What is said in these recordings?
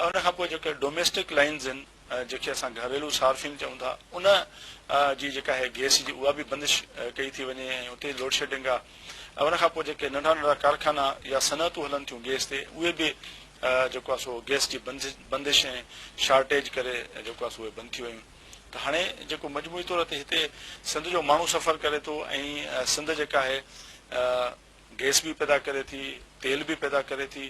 ۽ ان کان پوء جيڪي ڊوميسٽڪ لائنز آهن جنهن کي اسان گهريلو صارفين چئون ٿا ان جي جيڪا آهي گئس جي اها به بندش ڪئي ٿي وڃي ۽ اتي لوڊشيڊنگ آهي ۽ ان کان پوء جيڪي ننڍا ننڍا ڪارخانا يا صنعتون هلن ٿيون گئس تي اهي به جيڪو آهي سو گئس جي بندش ۽ شارٽيج ڪري جيڪو آهي سو اهي بند ٿي ويون ته هاڻي جيڪو مجموعي طور تي هتي سنڌ جو ماڻهو سفر ڪري ٿو ۽ سنڌ جيڪا آهي گئس به پيدا ڪري ٿي، تيل به پيدا ڪري ٿي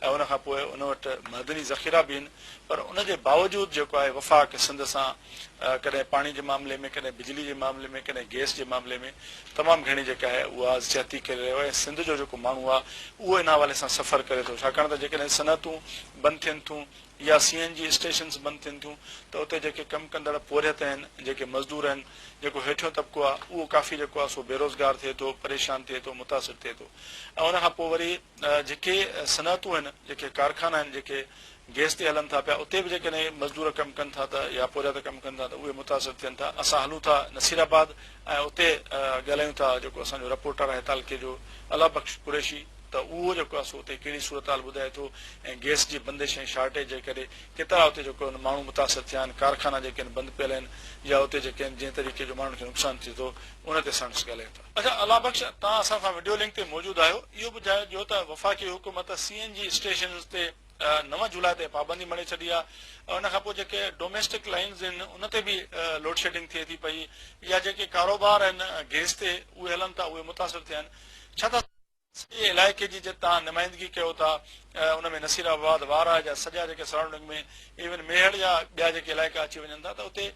۽ ان کان پوء ان وٽ معدني ذخيرا به آهن پر ان جي باوجود جيڪو آهي وفاق سنڌ سان ڪڏهن پاڻي جي معاملي ۾ ڪڏهن بجلي جي معاملي ۾ ڪڏهن گئس جي معاملي ۾ تمام گهڻي جيڪا آهي اها زيادتي ڪري رهيو آهي سنڌ جو جيڪو ماڻهو آهي اهو ان حوالي سان سفر ڪري ٿو ڇاڪاڻ ته جيڪڏهن صنعتون بند ٿين ٿيون يا سي اين جي اسٽيشنز بند ٿين ٿيون ته اتي جيڪي ڪم ڪندڙ پورهيت آهن، جيڪي مزدور آهن، جيڪو هيٺيون طبقو آهي اهو ڪافي جيڪو آهي سو بيروزگار ٿئي ٿو، پريشان ٿئي ٿو، متاثر ٿئي ٿو ۽ ان کان پوء وري جيڪي صنعتون آهن، جيڪي ڪارخانا آهن، جيڪي گيس تي هلن ٿا پيا اتي به جيڪڏهن مزدور ڪم ڪن ٿا ته يا پورهيت ڪم ڪن ٿا ته اهي متاثر ٿين ٿا. اسان هلون ٿا نصير آباد ۽ اتي ڳالهايون ٿا جيڪو اسان جو رپورٽر آهي تعلقي جو الله بخش قريشي. ته اهو جيڪو آهي سو اتي ڪهڙي صورتحال ٻڌائي ٿو ۽ گئس جي بندش ۽ شارٽيج جي ڪري ڪيترا اتي جيڪو آهن ماڻهو متاثر ٿيا آهن، ڪارخانا جيڪي آهن بند پيل آهن يا اتي جيڪي آهن جنهن طريقي جو ماڻهن کي نقصان ٿئي ٿو ان تي سائنٽسٽ ڳالهائين ٿا. اچا الله بخش توهان اسان سان وڊيو لنڪ تي موجود آهيو اهو ٻڌايو ته وفاقي حڪومت سي اين جي اسٽيشنز تي نو جولاء تائين پابندي مڙهي ڇڏي آهي ان کانپوء جيڪي ڊوميسٽڪ لائينز آهن ان تي به لوڊشيڊنگ ٿئي ٿي پئي يا جيڪي ڪاروبار آهن گئس تي اهي هلن ٿا اهي متاثر ٿيا آهن ڇا ٿا سڄي علائقي جي جتي توهان نمائندگي ڪيو ٿا ان ۾ نصير آباد وارهه جا سڄا جيڪي سرائونڊنگ ۾ ايون ميهڙ جا ٻيا جيڪي علائقا اچي وڃن ٿا ته اتي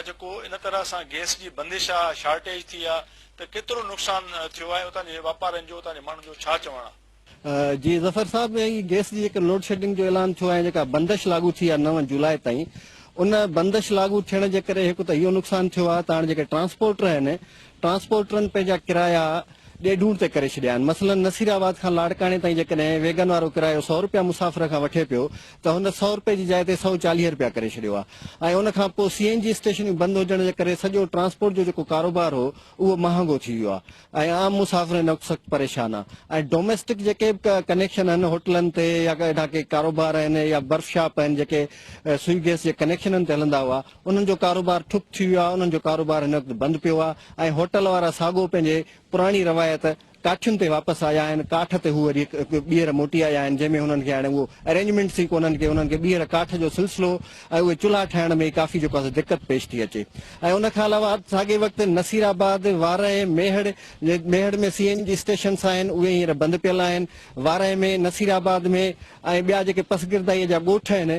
جيڪو ان طرح سان گئس جي بندش آ شارٽيج ٿي آ ته ڪيترو نقصان ٿيو آهي اتان جي واپارين جو اتان جي ماڻهن جو ڇا چوڻ آ. جي ظفر صاحب هي گئس جي جيڪي لوڊ شيڊنگ جو اعلان ٿيو آهي جيڪا بندش لاڳو ٿي آ نو جولاء تائين ان بندش لاڳو ٿيڻ جي ڪري هڪ ته اهو نقصان ٿيو آ ته هاڻ جيڪي ٽرانسپورٽر آهن ٽرانسپورٽرن پنهنجا ڪرايا ڏيڍون تي ڪري ڇڏيا آهن، مثلا نصير آباد کان لاڙڪاڻي تائين جيڪڏهن ويگن وارو ڪرايو سؤ رپيا مسافر کان وٺي پيو ته هن سؤ رپئي جي جاء تي سؤ چاليهه رپيا ڪري ڇڏيو آهي ۽ ان کان پوء سي اين جي اسٽيشنيون بند هجڻ جي ڪري سڄو ٽرانسپورٽ جو جيڪو ڪاروبار هو اهو مهانگو ٿي ويو آهي ۽ عام مسافر هن وقت سخت پريشان آهن ۽ ڊوميسٽڪ جيڪي به ڪنيڪشن آهن هوٽلن تي يا اهڙا ڪي ڪاروبار آهن يا برف شاپ آهن جيڪي سوئي گئس جي ڪنيڪشنن تي هلندا هئا انهن جو ڪاروبار ٺپ ٿي ويو آهي، انهن جو ڪاروبار هن وقت بند پيو آهي ۽ هوٽل وارا ساڳو پنهنجي پراڻي روايت ڪاٺين تي واپس آيا آهن، ڪاٺ تي هو وري ٻيهر موٽي آيا آهن جنهن ۾ هنن کي هاڻي اهو ارينجمينٽس ئي ڪونهن ڪي انهن کي ٻيهر ڪاٺ جو سلسلو ۽ اهي چلها ٺاهڻ ۾ ڪافي جيڪو آهي سو دقت پيش ٿي اچي ۽ ان کان علاوه ساڳي وقت Nasirabad, Warah, Mehar, Mehar ۾ C N G stations آهن اهي هينئر بند پيل آهن، وارهه ۾ نصير آباد ۾ ۽ ٻيا جيڪي پسگردائيء جا ڳوٺ آهن،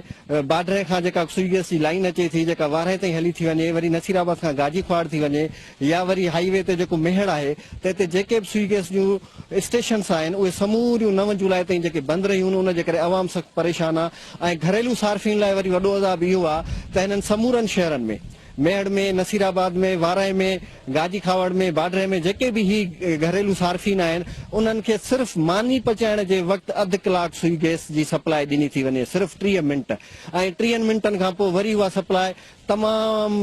باڊري کان جيڪا سوئي گئس جي لائين اچي ٿي، جيڪا وارهين تائين هلي ٿي وڃي، وري نصير آباد کان گاجي کهاڙ ٿي وڃي يا وري هائي وي تي جيڪو ميهڙ آهي، تنهن تي جيڪي به سوئي گئس جون اسٽيشنس آهن، اهي سموريون نو جولاء تائين جيڪي بند رهيون، ان جي ڪري عوام سخت پريشان آهي ۽ گهريلو صارفين لاء وري وڏو عذاب اهو آهي ته هنن سمورن شهرن ۾. ميهڙ ۾، نصير آباد ۾، وارانهين ۾، گاجي کاوڙ ۾، باڊري ۾ جيڪي به هي گهريلو صارفين آهن انهن کي صرف ماني پچائڻ جي وقت اڌ ڪلاڪ سوئي گئس جي سپلاء ڏني ٿي وڃي صرف ٽيهه منٽ ۽ ٽيهن منٽن کان پوء وري اها سپلاء تمام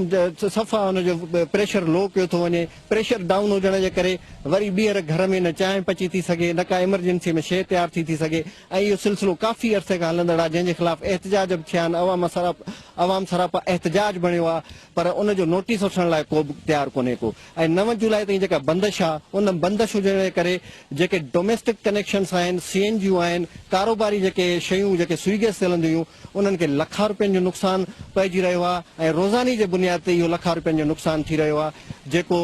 صفا ان جو پريشر لو ڪيو ٿو وڃي پريشر ڊائون هجڻ جي ڪري وري ٻيهر گهر ۾ نه چانهه پچي ٿي سگهي نه ڪا ايمرجنسي ۾ شيء تيار ٿي ٿي سگهي ۽ اهو سلسلو ڪافي عرصي کان هلندڙ آهي جنهن جي خلاف احتجاج به ٿيا آهن عوام سراپا عوام سراپا احتجاج بڻيو آهي پر ان جو نوٽيس وٺڻ لاء ڪوبه تيار ڪونهي ڪو ۽ نو جولاء تائين جيڪا بندش آهي ان بندش هجڻ جي ڪري جيڪي ڊوميسٽڪ ڪنيڪشنس آهن سي اين جيون آهن ڪاروباري جيڪي شيون جيڪي سوئي گيس تي هلنديون هيون انهن کي لکان روپين جو نقصان پئجي رهيو آهي ۽ روزاني جي بنياد تي اهو لکان روپين جو نقصان ٿي رهيو آهي جيڪو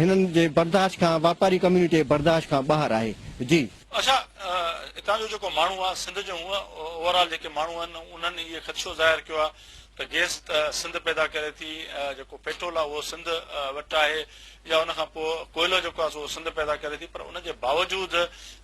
هنن جي برداشت کان واپاري ڪميونٽي جي برداشت کان ٻاهر آهي جي اچا اتان جو جيڪو ماڻهو آ سنڌ جو هونء اوور آل جيڪي ماڻهو آهن انهن اهي خدشو ظاهر ڪيو آ ته گيس ته سنڌ پيدا ڪري ٿي جيڪو پيٽرول آ اهو سنڌ وٽ آهي يا ان کان پوء ڪوئلو جيڪو آ سو سنڌ پيدا ڪري ٿي پر ان جي باوجود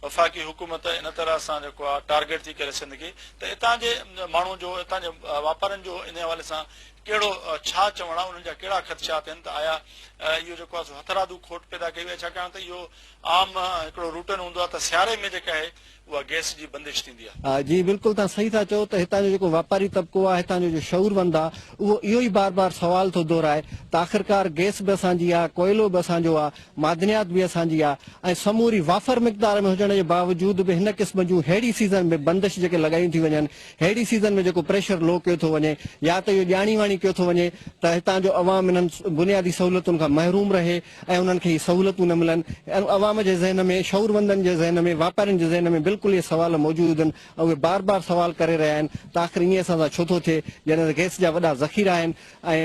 وفاقي حڪومت ان طرح سان جيڪو آ ٽارگيٽ ٿي ڪري سنڌ کي ته اتان جي ماڻهو جو اتان جي واپارين جو ان حوالي سان ڪهڙو ڇا چوڻ آ انهن جا ڪهڙا خدشات آهن ته آيا اهو جيڪو آ سو هٿرادو کوٽ پيدا ڪئي وئي ڇاڪاڻ ته اهو عام هڪڙو روٽن هوندو آهي ته سياري ۾ جيڪا آهي اها گئس جي بندش ٿيندي آهي. جي بلڪل تهان صحيح ٿا چئو ته هتان جو جيڪو واپاري طبقو آهي هتان جو جو شعورمند آهي اهو اهو ئي بار بار سوال ٿو دهرائي ته آخرڪار گئس به اسان جي آهي ڪوئلو به اسان جو آهي معدنيات به اسان جي آهي ۽ سموري وافر مقدار ۾ هجڻ جي باوجود به هن قسم جون ههڙي سيزن ۾ بندش جيڪي لڳايون ٿي وڃن ههڙي سيزن ۾ جيڪو پريشر لو ڪيو ٿو وڃي يا ته اهو ڄاڻي واڻي ڪيو ٿو وڃي ته هتان جو عوام انهن بنيادي سهولتن کان محروم رهي ۽ انهن کي هي سهولتون نه ملن ۽ عوام جي ذهن ۾ شعوروندن جي ذهن ۾ واپارين جي ذهن ۾ بلڪل اهي سوال موجود هن ۽ اهي بار بار سوال ڪري رهيا آهن ته آخر ائين اسان سان ڇو ٿو ٿئي جڏهن ته گئس جا وڏا ذخيرا آهن ۽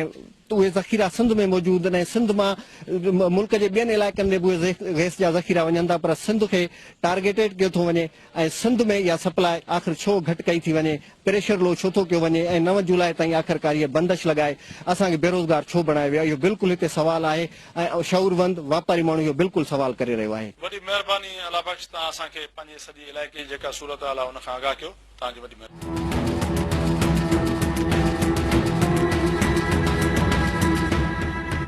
اهي ذخيرا سنڌ ۾ موجود هن ۽ سنڌ مان ملڪ جي ٻين علائقن ۾ به اهي گئس جا ذخيرا وڃن ٿا پر سنڌ کي ٽارگيٽيڊ ڪيو ٿو وڃي ۽ سنڌ ۾ اها سپلاء آخر ڇو گهٽ ڪئي ٿي وڃي، پريشر لو ڇو ٿو ڪيو وڃي ۽ نو جولاء تائين آخرڪار هيء بندش لڳائي اسان کي بيروزگار ڇو بڻايو ويو آهي اهو بلڪل هتي سوال آهي ۽ شعوروند واپاري ماڻهو اهو بلڪل سوال ڪري رهيو آهي. وڏي مهرباني الله بخش توهان اسان کي پنهنجي سڄي علائقي جي جيڪا صورتحال آهي ان کان آگاهه ڪيو توهان جي وڏي مهرباني.